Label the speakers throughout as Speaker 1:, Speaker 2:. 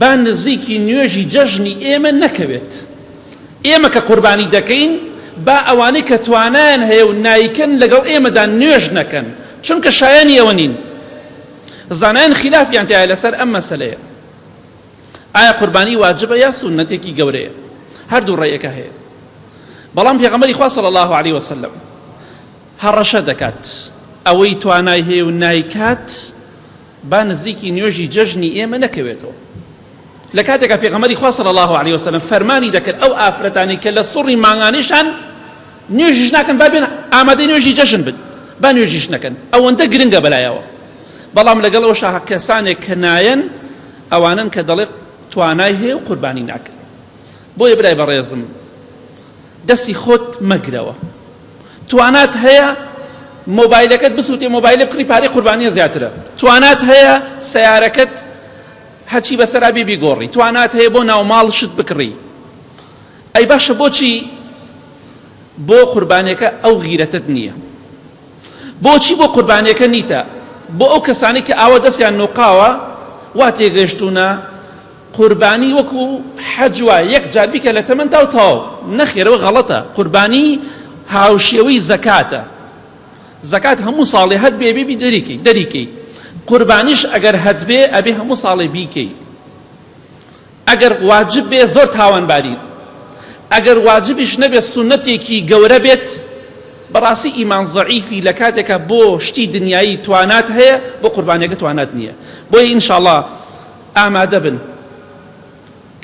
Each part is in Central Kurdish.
Speaker 1: با نزیکی نوێژی جەژنی ئێمە نەکەوێت. ئێمە کە قوربانی دەکەین، با ئەوانەی کە توانایان هەیە و نایکەن لەگەڵ ئێمەدا نوێژ نەکەن، چونکە شایانی ئەوە نین. زانایان خیلافیان تیایە لەسەر ئەم مەسەلەیە، ئایا قوربانی واجبە یا سوننەتێکی گەورەیە؟ هەردوو ڕێیەکە هەیە، بەڵام پێغەمبەری خوا صلی الله علیه وسلم هەڕەشە دەکات ئەوەی توانای هەیە و نایکات با نزیکی نوێژی جەژنی ئێمە نەکەوێتەوە لە کاتێکا پێغەمەری خوا صلی الله علیه وسلم فەرمانی دەکرد ئەو ئافرەتانی کە لە سڕی مانگانیشان نوێژیش ناکەن با بێن ئامادەی نوێژی جەژن بن با نوێژیش نەکەن ئەوەندە گرنگە بەلایەوە بەڵام لەگەڵ ئەو شاهە کەسانێک کە نایەن ئەوانن کە دەڵێت توانای هەیە و قوربانی ناکرێت بۆیە برای بەڕێزم دەستی خۆت مەگرەوە توانات هەیە مۆبایلەکەت بسووتێ مۆبایلە بکڕی پارەی قوربانیە زیاترە توانات هەیە سیارەکەت هەچی بەسەرا بێ بیگۆڕی توانات هەیە بۆ ناوماڵ شت بکڕی ئەی باشە بۆچی بۆ قوربانەکە ئەو غیرەتت نییە بۆچی بۆ قوربانەکە نیتە بۆ ئەو کەسانی کە ئاوە دەستیان نوقاوە وا تێگەشتونە قوربانی وەکو حەج وایە یەک جار بیکە لە تەمەنتاو تەواو نەخێر ئەوە غەڵەتە قوربانی هاوشێوەی زەکاتە زەکات هەموو ساڵێ هەت بێ بێ دەریکەی دەریکەی قوربانیش ئەگەر هەت بێ ئەبێ هەموو ساڵێ بیکەی ئەگەر واجب بێ زۆر تاوانباری ئەگەر واجبیش نەبێت سونەتێکی گەورە بێت بەڕاستی ئیمان زەعیفی لە کاتێکە بۆ شتی دنیایی توانات هەیە بۆ قوربانەکە توانات نییە بۆیە ئینشاءڵڵا ئامادەبن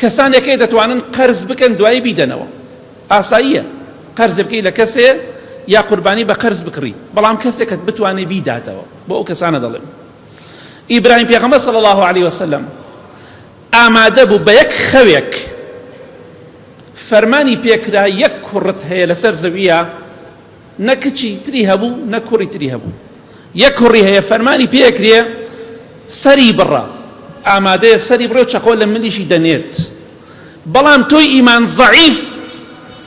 Speaker 1: کەسانێک هەیە دەتوانن قەرز بکەن دوایی بیدەنەوە ئاساییە قەرز بکەی لە کەسێ یا قوربانی بە قەرز بکڕی بەڵام کەسێکت بتوانێت بیداتەوە بۆ ئەو کەسانە دەڵێن ئیبراهیم پێغەمە سەڵ الله عليه وسلم ئامادە بوو بە یەک خەوێک فەرمانی پێکرا یەک کوڕت هەیە لەسەر زەویە نە کچی تری هەبوو نە کوڕی تری هەبوو یەک کوڕی هەیە فەرمانی پێکرێ سەری بڕە ئامادەیە سەری بڕێ و چەقۆ لە ملیشی دەنێت بەڵام تۆی ئیمان زەعیف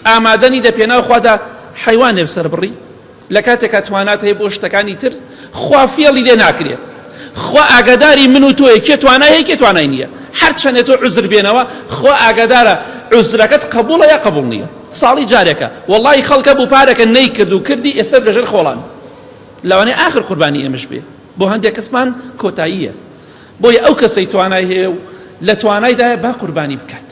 Speaker 1: ئامادەنی دە پێناو خوادا حیوانێ سەر بڕی لە کاتێکا توانات هەیە بۆ شتەکانی تر خوا فێڵی لێ ناکرێ خوا ئاگاداری من و تۆیە کێ توانایە کێ توانای نییە هەرچەندێت تۆ عزر بێنەوە خوا ئاگادارە عزرەکەت قبولە یا قبول نییە ساڵی جارێکە وەڵای خەڵکە بوو پارەکە نەیکرد و کردی ئێستا بێژەر خۆڵان لەوانەیە ئاخر قوربانی ئێمەش بێ بۆ هەندێک کەسمان کۆتاییە بۆیە ئەو کەسەی توانای هەیە و لە توانایدایە با قوربانی بکات.